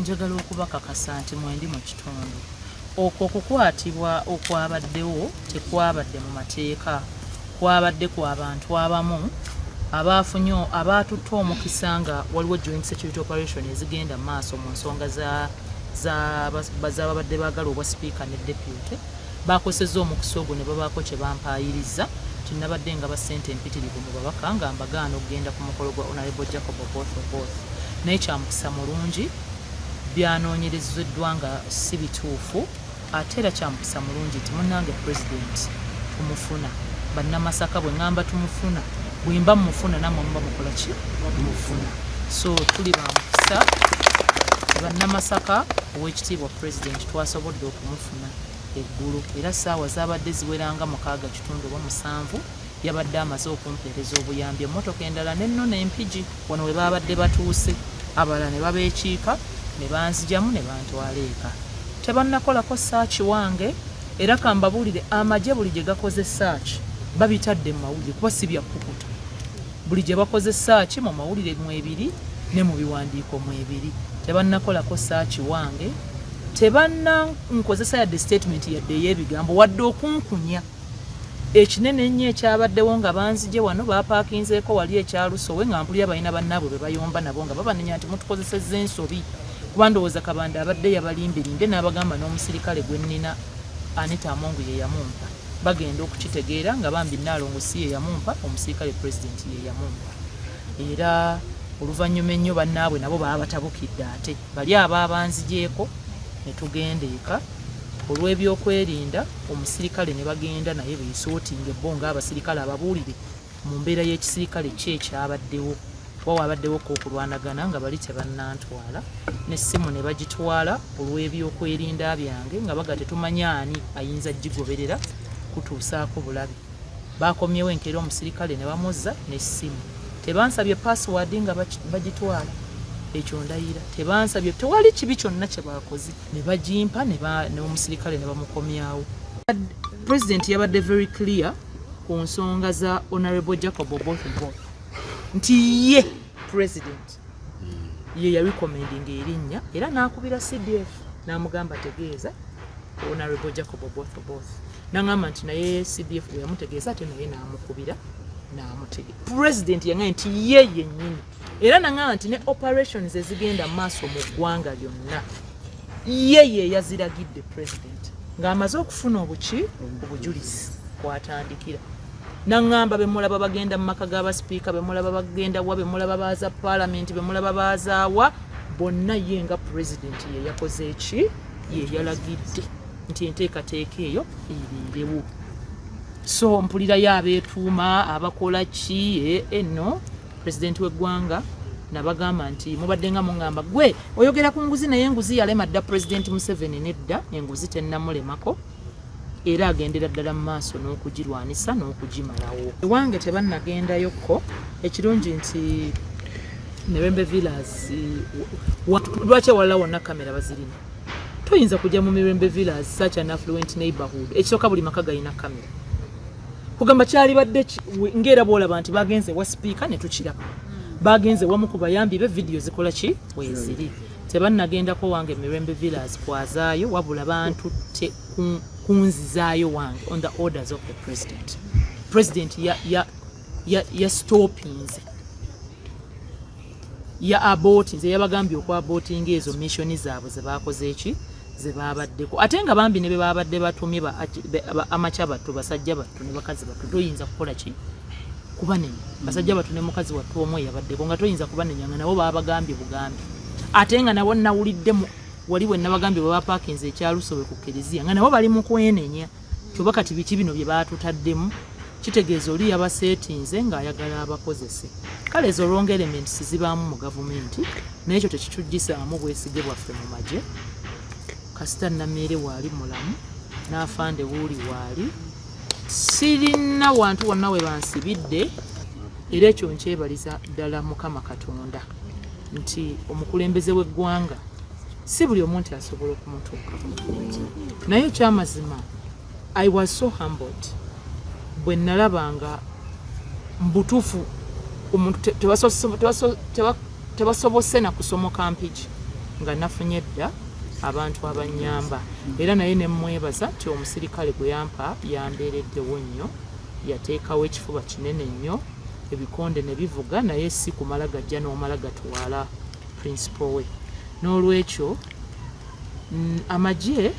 Njagala okubakakasa nti mwendi mu kitundu. Okwo okukwatibwa okwabaddewo tekwabadde mu mateeka, kwabadde kwa bantu abamu abaafunye abaatutte omukisa nga waliwo joint security operation ezigenda mu maaso mu nsonga z'ababadde baagala obwa sipiika ne deputy Baakosezza omukisa ogwo ne babaako kye bampaayirizza nti nabadde ngaba ssente empitirivu mu babaka nga mbagaana okugenda ku mukolo gwa Honorable Jacob Oboth Oboth naye kya mukisa mulungi byanoonyerezeddwa nga si bituufu ate era kya mukisa mulungi nti munnange pulezidenti tumufuna bannamasaka bwe ŋŋamba tumufuna bwe mba mufuna nammwe muba mukola ki mufuna so tuli ba mukisa bannamasaka ow'ekitiibwa pulezidenti twasobodde okumufuna Ssegona eggulo era ssaawa zaabadde ziwera nga mukaaga kitundu oba musanvu yabadde amaze okumpeereza obuyambi emmotoka endala n'ennona e Mpigi. Wano we baabadde batuuse abalala ne babeekiika ne banzijamu ne bantwala eka. Tebannakolako ssaaki wange era ka mbabuulire amagye buli gye gakoze ssaaki babitadde mu mawulire kuba si bya kkukuta. Buli gye bakoze saaki mu mawulire mwebiri ne mu biwandiiko mwebiri. Tebannakolako saaki wange, tebanna nkozesa yadde sitatimenti yadde ey'ebigambo wadde okunkunya. Ekinene ennyo ekyabaddewo nga banzigye wano baapaakinzeeko wali ekya Lusowe nga mpulira balina bannaabwe be bayomba nabo nga babanenya nti mutukozesezza ensobi kuba ndowooza Kabanda abadde yabalimbirimbye n'abagamba n'omusirikale gwe nnina Anita Among ye yamumpa. bagenda okukitegeera nga bambi Nnaalongo si ye yamumpa omusirikale pulezidenti ye yamumpa era oluvannyuma ennyo bannaabwe nabo baba batabukidde ate bali aba abanzigyeko ne tugenda eka olw'ebyokwerinda omusirikale ne bagenda naye beesootinga ebbo ng'abasirikale ababuulire mu mbeera y'ekisirikale ki ekyabaddewo kuba wabaddewo ko okulwanagana nga bali tebannantwala n'essimu ne bagitwala olw'ebyokwerinda byange nga baga tetumanya ani ayinza gigoberera kutuusaako bulabe baakomyewo enkeera omusirikale ne bamuzza n'essimu tebansabye pasiwaadi nga bagitwala ekyo ndayira tebansabye tewali kibi kyonna kye baakoze ne bagimpa n'omusirikale ne bamukomyawo pulezidenti yabadde very clear ku nsonga za honorable jacob oboth oboth nti ye president ye yarecommendinga erinnya era n'akubira cdf n'amugamba tegeeza honorable jacob oboth oboth nangamba nti naye cdf bwe yamutegeeza ate naye n'amukubira n'amutegeeza president yangaye nti ye yennyini era nangamba nti ne operations ezigenda maaso mu ggwanga lyonna ye yeyaziragidde president ng'amaze okufuna obuki obujulizi kwatandikira nangamba bemulaba bagenda mu maka g'abasipiika bemulaba bagenda wa bemulaba baaza palamenti bemulaba baazaawa bonna ye nga president yeyakoze eki yeyalagidde nti enteekateeka eyo eriirewo so mpulirayo abeetuuma abakola ki enno eh, eh, president w'eggwanga nabagamba nti mubadde nga mungamba gwe oyogera ku nguzi naye enguzi yalema dda president museveni nedda enguzi tennamulemako era agendera ddala mu maaso n'okugirwanisa n'okugimalawo ewange tebannagendayokko ekirungi nti mirembe villas lwaki awalala wonna kamera bazirina toyinza kujja mu mirembe villas such an affluent neighborhood ekisooka buli maka galina kamera kugamba kyalibadde ngaera bwolaba nti bagenze wa sipiika ne tukiraba bagenze wamu ku bayambi be vidiyo zikola ki weziri tebannagendako wange mirembe villas kwazaayo wabula bantutte kunzizaayo wange on the orders of the president president ya, ya, ya, ya stoppinze ya aboti nze yabagambye okwa aboti ngezo mission zaabwe ze bakoze eki ze babaddeko ate nga bambi ne babadde batumye ba amacha batu basajja batu ne bakazi batu toyinza kukola ki kubanenya basajja batu ne mukazi watu omwe yabaddeko nga toyinza kubanenya nga nabo babagambye bugambi ate nga nabo nawulidde wali we nabagambye baba parkings ekyalusobe ku kelezia nga nabo bali mu kwenenya kyoba kati biki bino bye baatutaddemu kitegeeza oli yabaseetinze ng'ayagala abakozese kale ezo wrong elements zibaamu mu gavumenti naye ekyo tekitujjisaamu bwesige bwaffe mu magye kasita nameere waali mulamu n'afande wuuli waali sirina wantu wonna we bansibidde era ekyo nkyebaliza ddala mukama katonda nti omukulembeze w'eggwanga si buli omu nti asobola okumutuuka naye ekyamazima i was so humbled bwe nalabanga mbutuufu omuntu tebasobose na kusomoka mpigi nga nafunye dda abantu abanyamba era naye nemwebaza nti omusirikale gwe yampa yambeereddewo nnyo yateekawo ekifuba kinene nnyo ebikonde ne bivuga naye si kumala gajja n'omala gatwala principal we n'olwekyo mm, amagye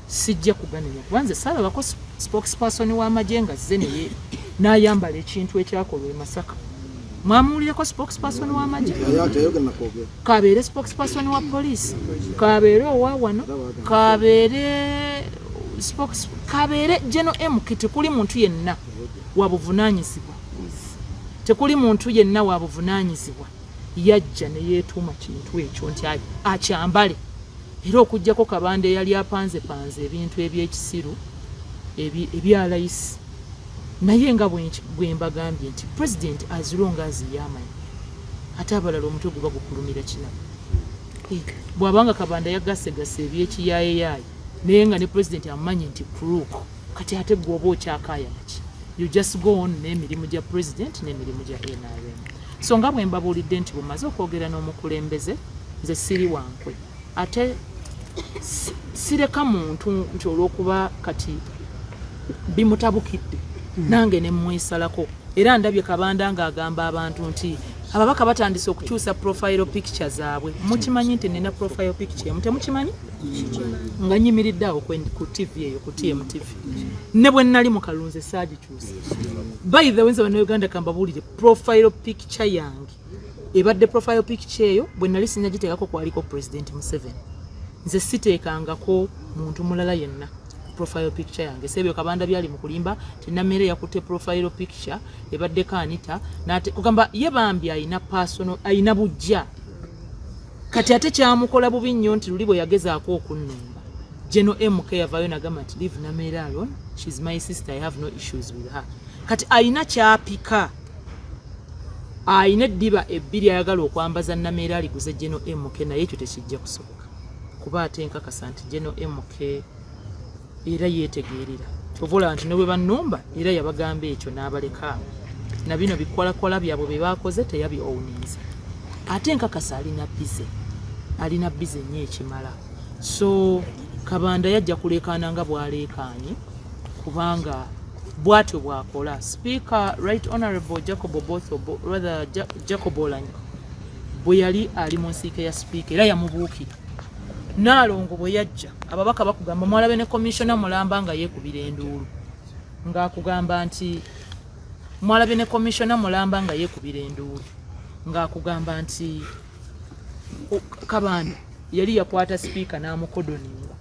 sijja kuganenya kuba nze saalabako spokesperson w'amagye nga zze naye n'ayambala ekintu ekyakolwa e masaka mwamuwulireko spokesperson w'amagye kabeere spokesperson wa poliisi kabeere owa wano kabeere kabeere geno mk tekuli muntu yenna wabuvunanyizibwa tekuli muntu yenna wabuvunanyizibwa yajja ne yeetuuma kintu ekyo nti akyambale era okugyako kabanda eyali apanzepanze ebintu ebyekisiru ebyalayisi naye nga bwembagambye nti president azilonga aziyamanyi ate abalala omutwe guba gukulumira kina bwabanga kabanda yagasegasa ebyekiyayeyaye naye nga ne president amanyi nti crook kati ate gwoba okyakayaki you just go on n'emirimu gya president n'emirimu gya nrm So nga bwe mbabuulidde nti bumaze okwogera n'omukulembeze nze siri wankwe ate sireka muntu nti olw'okuba kati bimutabukidde hmm. nange ne mmwesalako era ndabye kabanda ng'agamba abantu nti ababaka batandise okukyusa profile picture zaabwe mukimanyi nti nina profile picture emu temukimanyi nga nyimiridde awo ku tv eyo ku tmtv ne bwe nnali mu kalunzi saagikyu by the way nze banauganda kambabuulire profile picture yange ebadde profile picture eyo bwe nali sinagiteekako kwaliko president museven nze siteekangako muntu mulala yenna profile picture yange sebyo kabanda byali mukulimba tinamere yakute profile picture ebadde kanita nate kugamba ye bambi ayina personal ayina bujja kati ate kyamukola bubi nnyo nti luli bwe yagezaako okunnumba General MK yavayo nagamba nti leave Nameere alone she's my sister I have no issues with her kati alina kyapika alina eddiba ebbiri ayagala okwambaza Nameere aliguze General MK naye ekyo tekijja kusoboka kuba ate nkakasa nti General MK era yeetegeerera ovola nti ne bwe bannumba era yabagamba ekyo n'abaleka na bino bikwalakwala byabwe bye baakoze teyabi owuniiza ate nkakasa alina bize alina bize nnyo ekimala so kabanda yajja kuleekaana nga bwaleekaanye kubanga bwatyo bwakola speaker right honorable jacob oboth rather jacob olanyi bwe yali ali mu nsiika ya sipiika era yamubuukira naalongo bwe yajja ababaka bakugamba mwalabe ne komishona mulamba nga yeekubira enduulu ng'akugamba nti mwalabe ne komishona mulamba nga yeekubira enduulu ng'akugamba nti kabanda yali yakwata sipiika n'amukodoninga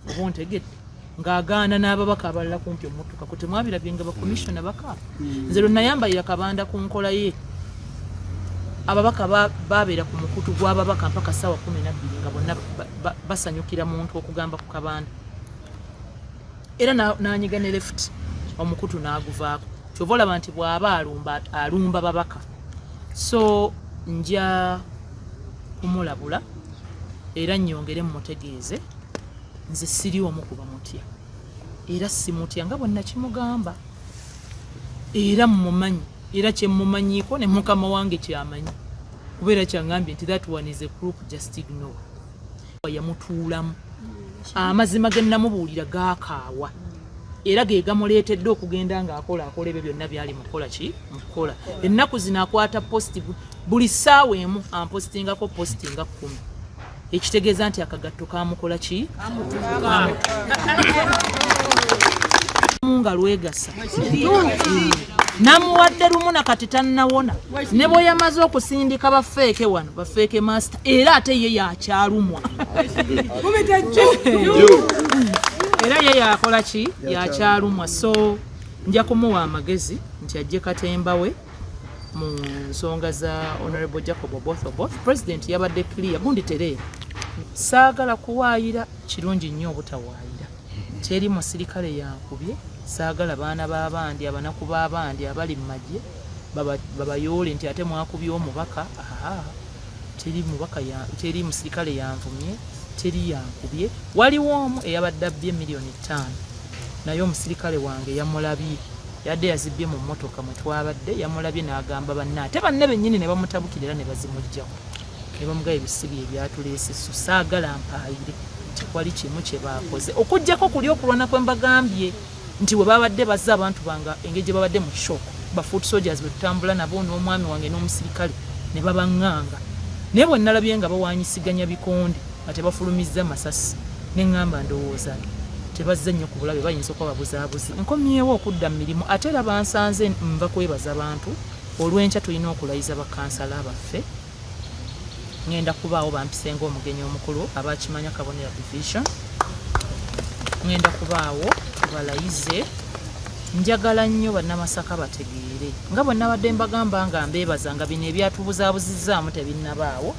oba ontegedde ng'agaana n'ababaka abalala kumpi omutuka ku temwabirabye nga bakomisiona baka hmm. nze lwe nayambalira kabanda ku nkola ye ababaka babeera ku mukutu gw'ababaka mpaka ssaawa kumi nabbiri nga bonna basanyukira muntu okugamba ku kabanda era nanyiga ne left omukutu n'aguvaako kyova olaba nti bwaba alumba alumba babaka so nja kumulabula era nyongere mumutegeeze nze siri omu kuba mutya era simutya nga bwe nakimugamba era mumumanyi era kyemumanyiiko ne mukama wange kyamanyi kubeera kyangambye nti that one is a crook just ignore Yakuwa yamutuulamu. Amazima ge nnamubuulira gaakaawa era ge gamuleetedde okugenda ng'akola akola ebyo byonna byali mu kukola ki mu kukola. Ennaku zino akwata positi buli ssaawa emu ampositingako positi nga kkumi ekitegeeza nti akagatto kaamukola ki nga lwegasa namuwadde lumu na kati tannawona ne bwe yamaze okusindika bafeeke wano bafeeke master era ate ye yakyalumwa era ye yakola ki yakyalumwa so nja kumuwa amagezi nti ajje katemba we mu nsonga za honorable jacob oboth oboth president yabadde clear gundi tereera saagala kuwaayira kirungi nnyo obutawaayira teri musirikale yankubye saagala baana b'abandi abanaku b'abandi abali mu magye babayoole nti ate mwakubye omubaka aa teri mubaka ya teri musirikale yanvumye teri yankubye waliwo omu eyabadde abbye miliyoni ttaano naye omusirikale wange yamulabye yadde yazibbye mu mmotoka mwe twabadde yamulabye n'agamba banne ate banne bennyini ne bamutabukira era ne bazimuggyako ne bamugaye ebisibi ebyatuleese so saagala mpaayire tekwali kimu kye baakoze okuggyako kuli okulwana kwe mbagambye nti bwe babadde bazza abantu bange engeri gye babadde mu shock ba foot soldiers bwe tutambula nabo n'omwami wange n'omusirikale ne babaŋŋanga naye bwe nnalabye nga bawanyisiganya bikonde nga tebafulumizza masasi ne ŋŋamba ndowooza tebazze nnyo ku bulabe bayinza okuba babuzaabuzi nkomyewo okudda mu mirimu ate era bansanze nva kwebaza bantu olw'enkya tulina okulayiza bakansala baffe ngenda kubaawo bampisenga omugenyi omukulu abakimanya kabonera division ngenda kubaawo balayize njagala nnyo bannamasaka bategeere nga bwe nabadde mbagamba nga mbeebaza nga bino ebyatubuzaabuzizaamu tebinnabaawo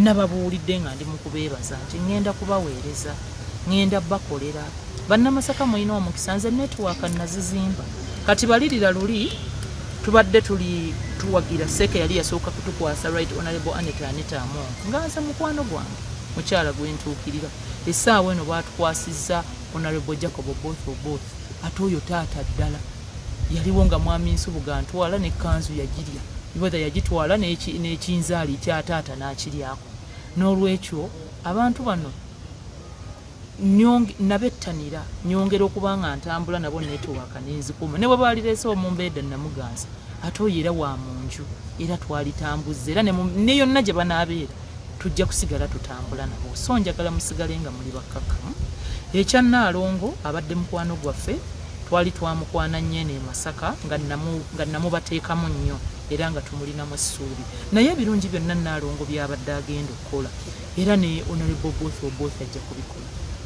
nababuulidde nga ndi mu kubeebaza nti ŋŋenda kubaweereza ngenda bakolera bannamasaka mulina omukisa nze netiwaaka nazizimba kati balirira luli tubadde tuli tuwagira seeke yali yasooka kutukwasa right honorable anet aneta amongo nga nze mukwano gwange mukyala gwentuukirira esaawa eno batukwasizza honorable jacob both oboth ate oyo taata ddala yaliwo nga mwami nsubuga ntwala ne kanzu yagirya wether yagitwala n'ekinzaali kya taata n'akiryako n'olwekyo abantu bano nabettanira nyongera okuba nga ntambula nabo netowaka nenzikuma ne bwe baalireese omumbeeda namuganza ate oyo era wa mu nju era twalitambuzza era ne yonna gye banaabeera tujja kusigala tutambula nabo so njagala musigale nga muli bakkakkamu ekya nnaalongo abadde mukwano gwaffe twali twamukwana nnyo eno e masaka nga namubateekamu nnyo era nga tumulinamu essuubi naye ebirungi byonna nnaalongo byabadde agenda okukola era ne Honorable Oboth Oboth ajja kubikola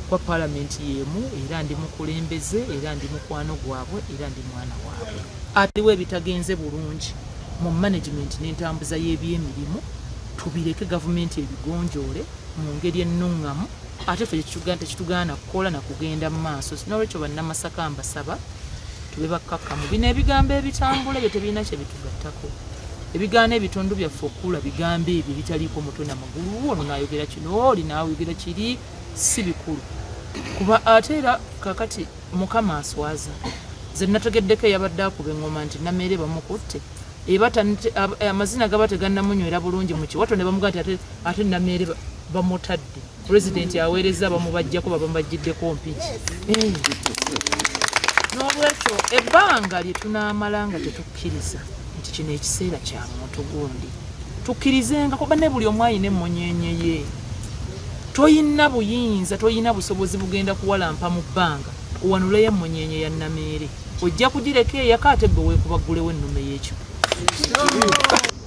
kwa palamenti yeemu era ndi mukulembeze era ndi mukwano gwabwe era ndi mwana waabwe. Aliwo ebitagenze bulungi mu management n'entambuza y'ebyemirimu tubireke gavumenti ebigonjoole mu ngeri ennuŋŋamu ate ffe tekitugaana kukola na kugenda mu maaso. N'olwekyo Bannamasaka mbasaba tube bakkakkamu bino ebigambo ebitambula ebyo tebirina kye bitugattako ebigaana ebitundu byaffe okukula bigambo ebyo ebitaliiko mutwe na magulu ono naayogera kino oli naayogera kiri si bikulu kuba ate era kakati mukama aswaza ze nategeddeko eyabadde akuba engoma nti nameere bamukutte amazina gaba tegannamunywera bulungi mu kiwato ne bamuga nti ate nameere bamutadde Pulezidenti aweerezza bamubajjako babamubajjiddeko mpiki eh. n'olwekyo ebbanga lye tunaamala nga tetukkiriza nti kino ekiseera kya muntu gundi tukkirizenga kuba ne buli omu alina emmunyenye ye toyina buyinza toyina busobozi bugenda kuwalampa mu bbanga owanuleyo emmunyenye ya nameere ojja kugireka eyaka ate gwe weekubaggulewo ennume y'ekyo